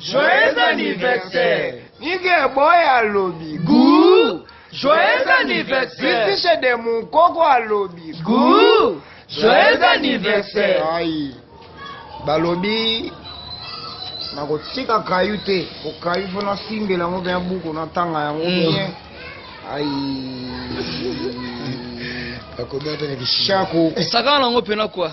Joyeux anniversaire. Nige boy alobi. Gou. Joyeux anniversaire. Bitishe de mon koko alobi. Gou. Joyeux anniversaire. Aïe. Balobi nakotika kayu te po kayu fo nasimbela yango mpe ya buku natanga yango mm. bien ai akomi ata na kishako esakana nango mpena kua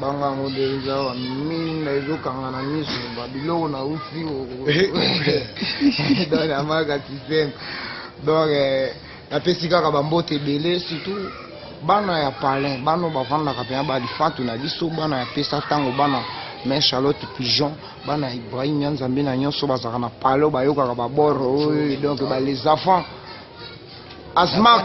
banga yango nde eza awa minda ezokanga na miso babiloko na usi don amaka systeme donc eh, napesi kaka bambote ebele surtout bana ya palin bana oyo bafandaka mpena balifatu na biso bana ya pesa ntango bana mais charlotte pigeon bana ya ibrahim ya nzambe na nyonso bazalaka na palo bayokaka baboro oyo donc ba les enfants asma